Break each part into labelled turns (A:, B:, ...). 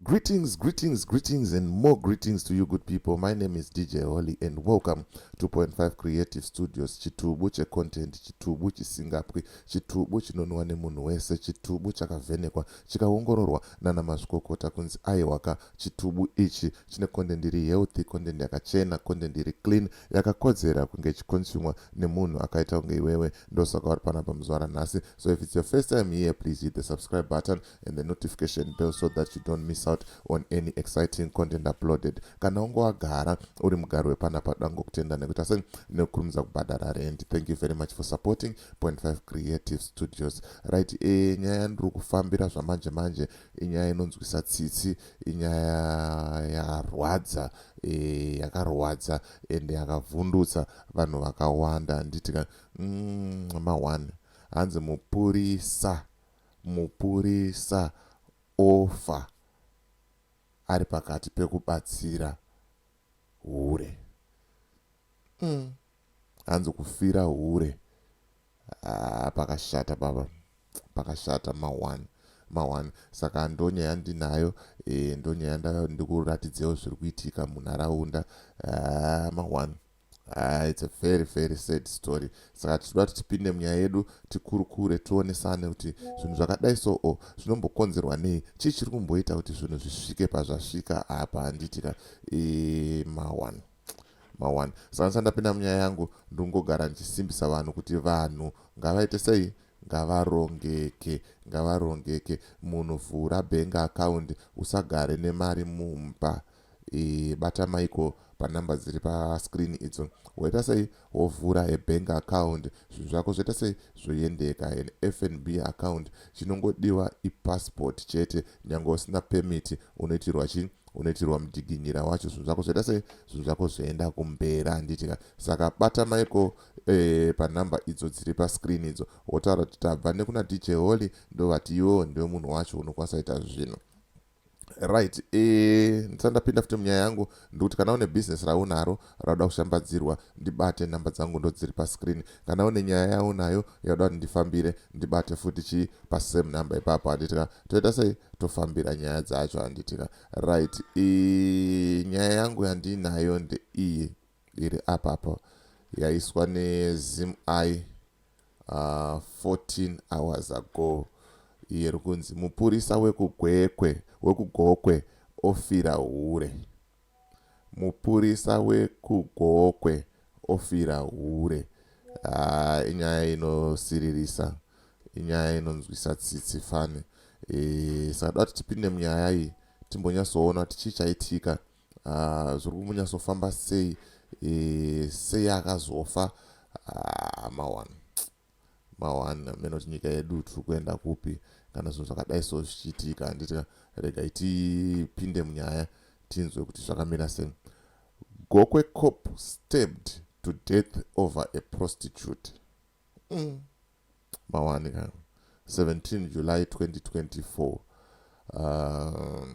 A: Greetings, greetings, greetings, and more greetings to you, good people. My name is DJ Holly, and welcome to Point Five Creative Studios. Chitubu che content, chitubu chisingapwi, chitubu chinonwa nemunhu wese, chitubu chakavhenekwa, chikaongororwa nana mazvikokota kunzi aiwaka. Chitubu ichi chine content iri healthy, content yakachena, content iri clean, yakakodzera kunge ichikonsumwa nemunhu akaita kunge iwewe. Ndosaka uri panapa muzuva ranhasi. So if it's your first time here, please hit the subscribe button. and the notification bell so that you don't miss out on any exciting content uploaded kana unge wagara uri mugari wepana padango kutenda nekuita sei nekukurumidza kubhadhara rent thank you very much for supporting point 5 creative studios right e nyaya yandiri kufambira zvamanje manje inyaya inonzwisa tsitsi inyaya yarwadza e, yakarwadza ende yakavhundutsa vanhu vakawanda handitika mm, ma1 hanzi mupurisa Mupurisa ofa ari pakati pekubatsira hure. Umm hanzi kufira hure haa pakashata baba pakashata ma one ma one saka ndonyaya yandinayo eh ndonyaya ndikuratidzeiwo zviri kuitika munharaunda haa ma one. Haa it's a very very sad story saka tichida kuti tipinde munyaya yedu tikurukure tionesane kuti zvinhu zvakadai so o zvinombokonzerwa nei chii chiri kumboita kuti zvinhu zvisvike pazvasvika apa handiti ka e, mawan mawan saka ndisandapinda munyaya yangu ndingogara ndichisimbisa vanhu kuti vanhu ngavaite sei ngavarongeke ngavarongeke munhu vhura bank account usagare nemari mumba e, bata maiko panumber dziri pascreen idzo woita sei wovhura a bank account zvinhu zvako zvoita sei zvoyendeka an fnb account chinongodiwa ipassport chete nyange usina permit unoitirwa chii unoitirwa mudiginyira wacho zvinhu zvako zvoita sei zvinhu zvako zvoenda kumberi handitika saka bata maiko e, panumber idzo dziri pascreen idzo wotaura kuti tabva nekuna dj holy ndovati iwewo ndiwe munhu wacho unokwanisa ita zvinhu Right, eh, ndisati ndapinda futi munyaya yangu ndikuti kana une business raunaro rauda kushambadzirwa ndibate nhamba dzangu ndodziri pascreen kana une nyaya yaunayo yauda kuti ndifambire ndibate futi chii pasame number ipapo handitika toita sei tofambira nyaya dzacho handitika right e, nyaya yangu yandiinayo ndeiyi iri apa apa yaiswa nezim i uh, 14 hours ago iye rikunzi mupurisa wekugwekwe wekugokwe ofira hure mupurisa wekugokwe ofira hure ah, inyaya inosiririsa inyaya inonzwisa tsitsi fani e, eh, sakada kuti tipinde munyaya iyi timbonyatsoona tichii chaitika uh, zviri kumunyatsofamba sei e, sei akazofa uh, mawani mawani amene kuti nyika yedu tiri kuenda kupi kana zvinhu zvakadai so zvichiitika handiti regai tipinde munyaya tinzwe kuti zvakamira sei gokwe cop stabbed to death over a prostitute mm. mawani ka 17 july 2024 um,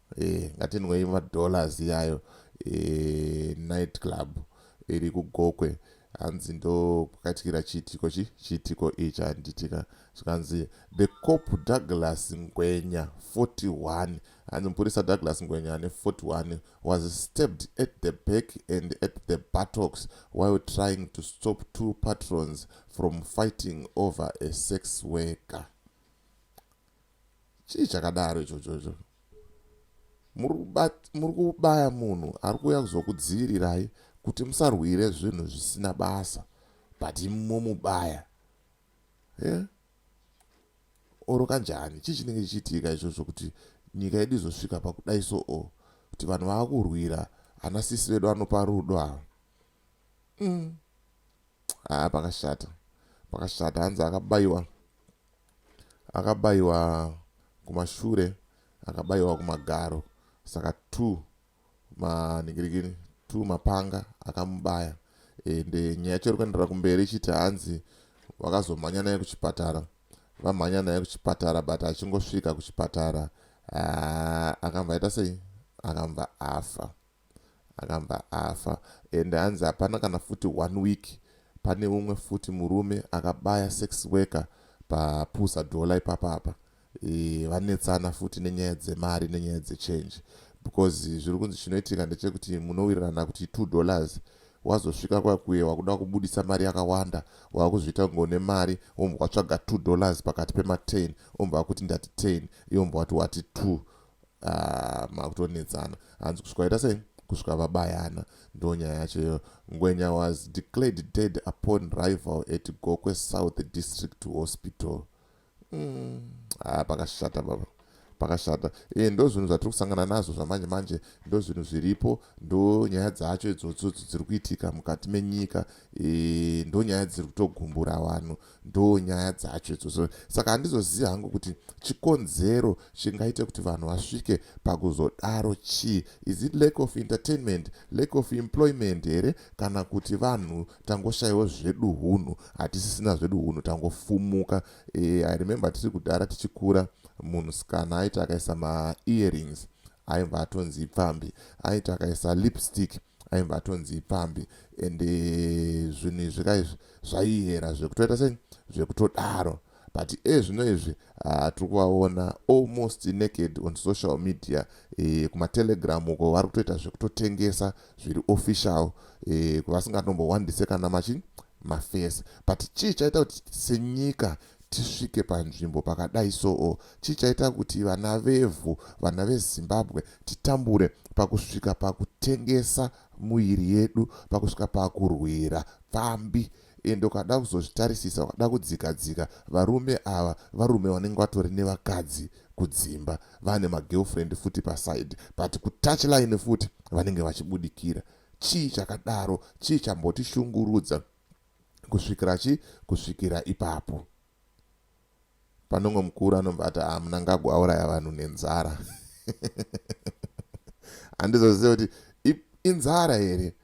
A: Eh, ngatinwei madollars iyayo eh, night club iri kugokwe hanzi ndo kwakatikira chiitiko chi chiitiko ichi handitika zvikanzi the cop douglas ngwenya 41 hanzi mupurisa douglas ngwenya ane 41 was stabbed at the back and at the buttocks while trying to stop two patrons from fighting over a sex worker chii chakadaro ichocho icho muri kubaya munhu ari kuuya kuzokudziirirai kuti musarwire zvinhu zvisina basa but momubaya yeah? oro kanjani chii chinenge chichiitika ichocho kuti nyika yedu izosvika pakudai so o kuti vanhu vava kurwira ana sisi vedu anopa rudo ava mm. haa pakashata pakashata hanzi akabayiwa Akabayiwa kumashure akabayiwa kumagaro saka two manhingirikini two mapanga akamubaya ende nyaya yacho iri kuenderera kumberi ichiti hanzi vakazomhanya naye kuchipatara vamhanya naye kuchipatara but achingosvika kuchipatara ah, akamva aita sei akamva afa Akabva afa and hanzi hapana kana futi one week pane umwe futi murume akabaya sex worker pa Pusa Dollar ipapa apa eeh vanetsana futi nenyaya dzemari nenyaya dze change because zviri kunzi chinoitika ndechekuti munowirirana kuti two dollars wazosvika kwakuye wakuda kubudisa mari yakawanda wakuzviita kunge une mari wombwa watsvaga two dollars pakati pema ten wombwa wakuti ndati ten iwe wombwa wati wati two Ah, makutonetsana hanzi kusvika vaita sei kusvika vabayana ndo nyaya yacho iyoyo ngwenya was declared dead upon rival at gokwe south district hospital mm. ah, pakashata baba pakashata e, ndo zvinhu zvatiri kusangana nazvo zvamanje manje ndo zvinhu zviripo ndo nyaya dzacho idzodzodzo dziri kuitika mukati menyika e, ndo nyaya dziri kutogumbura vanhu ndoo nyaya dzacho idzodzo saka handizozivi hangu kuti chikonzero chingaite kuti vanhu vasvike pakuzodaro chii is it lack of entertainment lack of employment here kana kuti vanhu tangoshaiwo zvedu hunhu hatisisina zvedu hunhu tangofumuka e, i remember tiri kudhara tichikura munhu sikana aiti akaisa maearings aibva atonzi ipfambi aiti akaisa lipstick aimva atonzi ipfambi and eh, zvinhu izvi ka izvi zvaihera zvekutoita sei zvekutodaro but ezvino eh, izvi ah, tiri kuvaona almost naked on social media e, kumatelegram uko vari kutoita zvekutotengesa zviri official e, vasingatombohwandise kana machi mafesi but chii chaita kuti senyika tisvike panzvimbo pakadai soo chii chaita kuti vana vevhu vana vezimbabwe titambure pakusvika pakutengesa muviri yedu pakusvika pakurwira pfambi ende ukada kuzozvitarisisa ukada kudzika dzika varume ava varume vanenge vatori nevakadzi kudzimba vane magirlfriend futi paside but kutouch line futi vanenge vachibudikira chii chakadaro chii chambotishungurudza kusvikira chi kusvikira ipapo panongo mukuru anobva ati ah munangagwa auraya vanhu nenzara handizozive kuti inzara here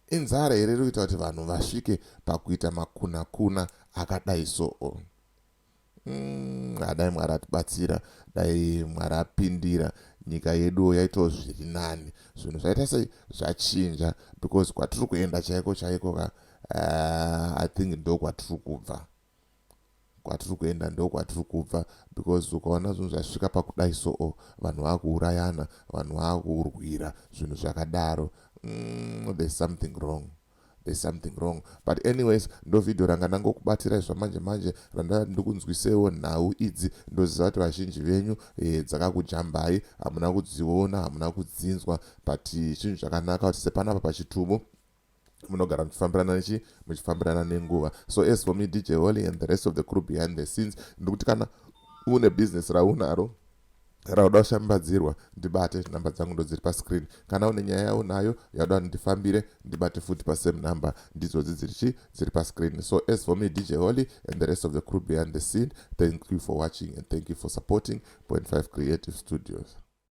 A: inzara here iri kuita kuti vanhu vasvike pakuita makunakuna akadai soo Mm, dai mwari atibatsira dai mwari apindira nyika yeduwo yaitawo zviri nani zvinhu zvaita sei zvachinja because kwatiri kuenda chaiko chaiko ka uh, i think ndo kwatiri kubva kwatiri kuenda ndo kwatiri kubva because ukaona zvinhu zvasvika pakudai soo oh, vanhu vakuurayana vanhu vakurwira zvinhu zvakadaro mm, there's something wrong there's something wrong but anyways ndovideo ranga ndangokubatirai zvamanje manje randava ndikunzwisewo nhau idzi ndoziva kuti vazhinji venyu e, dzakakujambai hamuna kudziona hamuna kudzinzwa but chinhu chakanaka kuti sepanapa pachitubu munogara muchifambirana nechi muchifambirana nenguva so as for me dj holy and the rest of the crew behind the scenes ndikuti kana une business raunaro Kana uda kushambadzirwa ndibate number dzangu ndodziri pascreen kana une nyaya yaunayo yauda ndifambire ndibate futi pasame number ndidzodzi dziri chi dziri pascreen so as for me dj holy and the rest of the crew behind the scene thank you for watching and thank you for supporting point 5 creative studios